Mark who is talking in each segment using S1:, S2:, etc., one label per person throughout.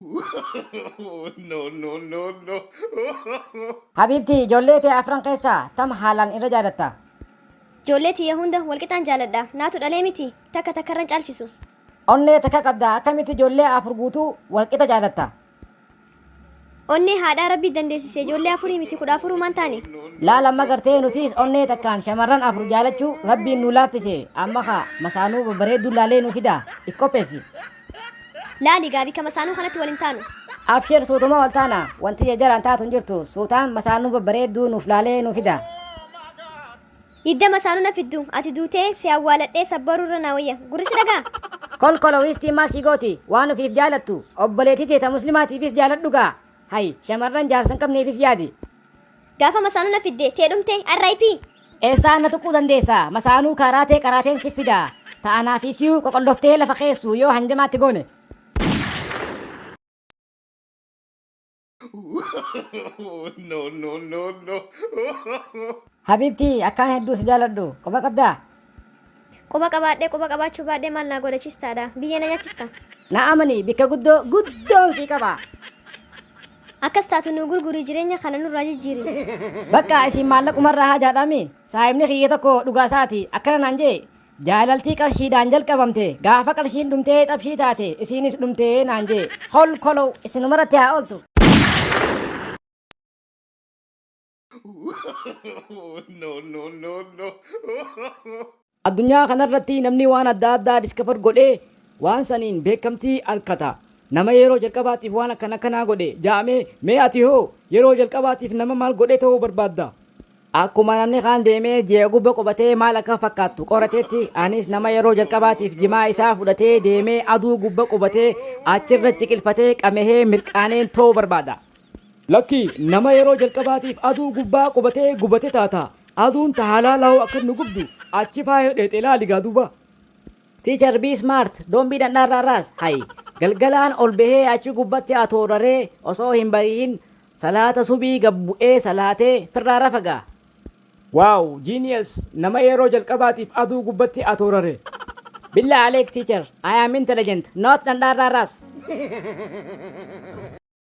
S1: no, no, no, no.
S2: Habiibtii ijoollee tee afran keessaa tam haalaan irra jaalatta? Ijoollee
S3: tiyya hunda walqixaan jaaladha. Naatu dhalee miti takka takkarran caalchisu. Onnee takka
S2: qabda akkamitti ijoollee afur guutuu walqixa jaalatta?
S3: Onnee haadhaa rabbi dandeessise ijoollee afurii miti kudha afurumaan taane. Laal amma gartee
S2: nutis onnee takkaan shamarran afur jaalachuu rabbiin nu laaffise amma kaa masaanuu babbareedduu laalee nu fida if qopheessi.
S3: Laali gaabii kama saanuu kanatti wal hin taanu. Abshir suutuma
S2: wal taana wanti jajjaraan taatu hin jirtu suutaan masaanuu babbareedduu nuuf laalee nuu fida.
S3: Didda masaanuu na fiddu ati duutee si awwaaladhee sabbaruu irra naa wayya gurri si dhagaa. Kolkolo wiistii
S2: maal sii gooti waan ofiif jaalattu obboleetii tee ta muslimaatiifis jaaladhu gaa. Hay shamarran jaarsa hin qabneefis yaadi. Gaafa masaanuu
S3: na fidde tee dhumte RIP. Eessaan na
S2: tuquu dandeessa? Masaanuu kaaraa tee qaraateen si fida. Ta anaa fi siyuu qoqolloftee lafa keessu yoo hanjamaatti goone.
S1: no no no no Habiibtii
S2: akkaan hedduu si jaaladhu. Quba qabdaa? Quba
S3: qabaadhee quba qabaachuu baadhee maal naa godha chistaadha. Biyyee na nyachista. Na amani bikka
S2: guddoo guddoon si qaba.
S3: Akkas taatu nuu gurgurii jireenya kana nurraa jijjiiri. Bakka isin
S2: maallaqumarraa haajaadhaami. Saahibni kiyya tokko dhugaa isaati akkana naan jee. Jaalaltii qarshiidhaan jalqabamte gaafa qarshiin dhumtee xabshii taate isiinis dhumtee naan jee. Kolkolow isinumaratti haa ooltu.
S1: no, no, no, no.
S2: Addunyaa kanarratti namni waan adda addaa diskafar godhee waan saniin beekamtii arkata. Nama yeroo jalqabaatiif waan akkana kanaa godhe ja'amee mee ati hoo yeroo jalqabaatiif nama maal godhee ta'uu barbaadda? Akkuma namni kaan deemee ji'a gubba qubatee maal akka fakkaattu qoratetti anis nama yeroo jalqabaatiif jimaa isaa fudhatee deemee aduu gubba qubatee achirra ciqilfatee qamehee mirqaaneen ta'uu barbaada. Lakkii, nama yeroo jalqabaatiif aduu gubbaa qubatee gubate taata. Aduun ta halaala hoo akkam nu gubdu, achi faaya dheexe ilaali gaa duuba. Teacher be smart don't be dhandhaarraa raas hayi galgalaan ol bahee achi gubbatti atoo raree osoo hin barihin salaata subii gad bu'ee salaatee firraa rafa gaa. Wow genius nama yeroo jalqabaatiif aduu gubbatti atoo rare. Billah Aleek teacher I am intelligent not dhandhaarraa raas.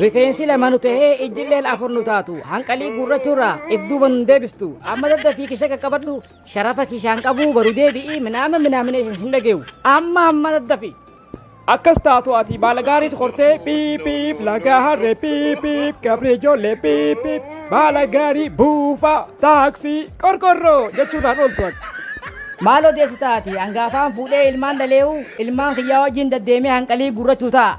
S4: Rifeensi
S2: lama nu tahee ijjilleen afur nu taatu hanqalii guurrachuurraa if duuba nun deebistu amma daddafii kisha qaqqabadhu sharafa kishaan qabuu baru deebi'i minaama minaamineeshin sin dhageewu amma amma daddafi. Akkas taatu
S4: ati baala gaariis qortee piip piip laga harree piip piip gabri ijoollee piip piip baala gaarii buufaa taaksii qorqorroo jechuudhaan ooltu ati. Maal
S2: odeessita ati hangaafaan fuudhee ilmaan dhaleewu ilmaan kiyyaa wajjin daddeemee hanqalii guurrachuu ta'a.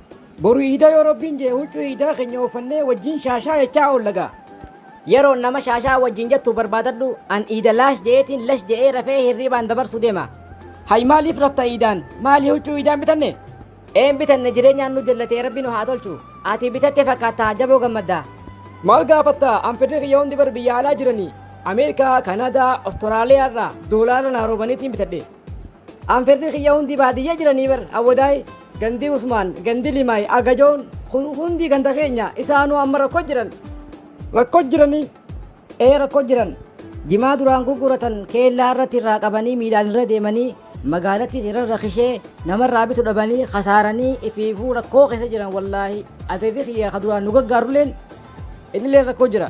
S2: Boru iida
S4: yoo Rabbiin je'e huccuu iidaa keenya uffannee wajjiin shaashaa jechaa oolla gaa. Yeroon nama
S2: shaashaa wajjiin jettu barbaadadhu an iida laash je'eetiin lash je'ee rafee hirriibaan dabarsu deema. Hay maaliif
S4: rafta iidaan? Maali huccuu iidaa hin bitanne? Ee hin bitanne
S2: jireenyaan nu jallatee Rabbi nu haa tolchu. Ati bitatte fakkaattaa jaboo gammaddaa. Maal gaafatta
S4: an firri kiyya hundi bar biyya alaa jiranii Ameerikaa, Kanaadaa, Ostiraaliyaa irraa doolaara naa roobaniitiin bitadhe. An firri
S2: kiyya hundi baadiyya jiranii bar awwadaay gandi usmaan gandi limaay agajoon kun hundi ganda keenya isaanuu amma rakko jiran. Rakko
S4: jiranii? Ee rakko
S2: jiran. Jimaa duraan gurguratan keellaa irratti irraa qabanii miilaan irra deemanii magaalattis irra rakishee namarraa bitu dhabanii kasaaranii ifiifuu rakkoo keessa jiran wallaahi ateetii kiyya ka duraan nu gargaarulleen inillee rakkoo jira.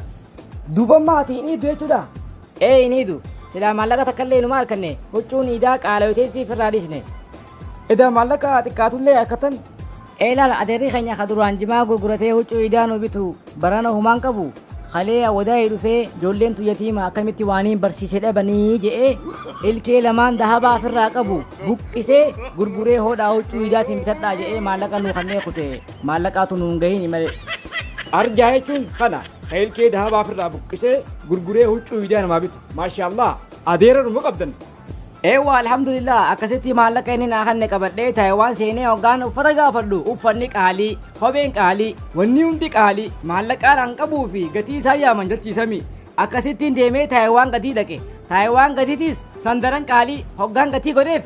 S2: Duuba maatii
S4: inni iddu jechuudha. Ee hin iidu.
S2: Silaa maallaqa takkallee inumaa arkanne. Huccuun iidaa qaalayoteetti ifirraa dhiisne. Edaa
S4: maallaqa haa xiqqaatullee arkattan. Ee laal
S2: adeerri keenya ka duraan jimaa gurguratee huccuu iidaa nu bitu barana homaa hin qabu. Kalee awwadaayii dhufee ijoolleen tun yatiima akkamitti waaniin barsiise dhabanii je'ee ilkee lamaan dahabaa ifirraa qabu buqqisee gurguree hoodhaa huccuu iidaatiin bitadhaa je'ee maallaqa nuu kannee kute. Maallaqaatu nu hin gahiini malee. Arjaa
S4: jechuun kana. Keelkee dahabaa firraa buqqisee gurguree huccuu miidiyaa namaa bitu. Maashaallah adeera dhuma qabdan. Eewwa
S2: alhamdulillah akkasitti maallaqa inni naa kanne qabadhee Taayiwaan seenee hoggaan uffata gaafadhu uffanni qaalii, kopheen qaalii, wanni hundi qaalii maallaqaan an qabuu fi gatii isaa yaaman jalchiisami. Akkasittiin deemee Taayiwaan gadii dhaqe. Taayiwaan gadiitis sandaran qaalii hoggaan gatii godheef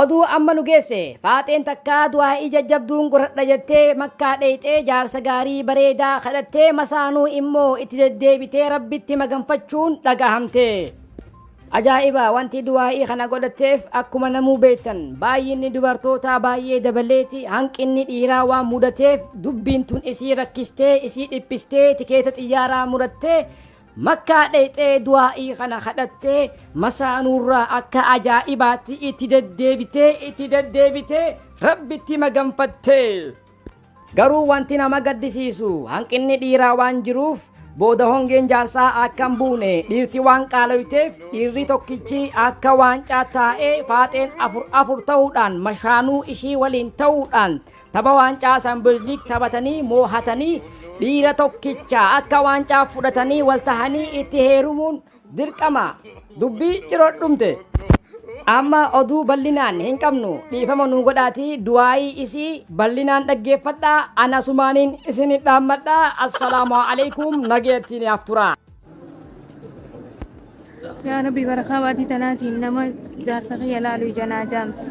S2: Oduu amma nu geesse faaxeen takkaa du'aa'ii jajjabduun godhadha jettee makkaa dheeyxee jaarsa gaarii bareedaa kadhattee masaanuu immoo itti deddeebitee rabbitti maganfachuun dhagahamte. Ajaa'iba! Wanti du'aa'ii kana godhatteef akkuma namuu beektan baay'inni dubartootaa baay'ee dabaleeti hanqinni dhiiraa waan mudateef dubbiin tun isii rakkistee isii dhiphistee tikeeta xiyyaaraa murattee Makkaa dheyxee du'aa'ii kana kadhattee masaanuurraa akka ajaa'ibaatti itti deddeebitee itti deddeebitee Rabbitti maganfatte. Garuu wanti nama gaddisiisu hanqinni dhiiraa waan jiruuf booda hongeen jaarsaa akka hin buune dhiirti waan qaaloyteef dhiirri tokkichi akka waancaa taa'ee faaxeen afur afur ta'uudhaan mashaanuu ishii waliin ta'uudhaan tapha waancaa Champions League taphatanii moohatanii dhiira tokkicha akka waancaa fudhatanii wal tahanii itti heerumuun Dirqama! Dubbii ciroon dhumte. Amma oduu ballinaan hin qabnu dhiifama nuu godhaatii du'aayii isii ballinaan dhaggeeffadhaa an asumaaniin isin dhaammadha assalaamu aleykum nagayattii naaf turaa.
S5: Yaa Rabbi barakaa baatii tanaatiin nama jaarsa kiyya laalu ija naa jaamsi.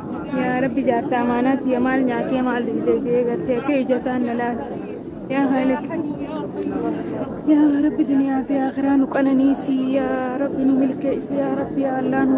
S5: Yaa Rabbi jaarsa amaanaa tiya maal nyaatee maal dhugdee biyya gartee akka ija isaan na laata. Yaa Haaliq. Yaa Rabbi duniyaa fi akiraa nu qananiisi. Yaa Rabbi nu milkeessi. Yaa Rabbi yaa Allah nu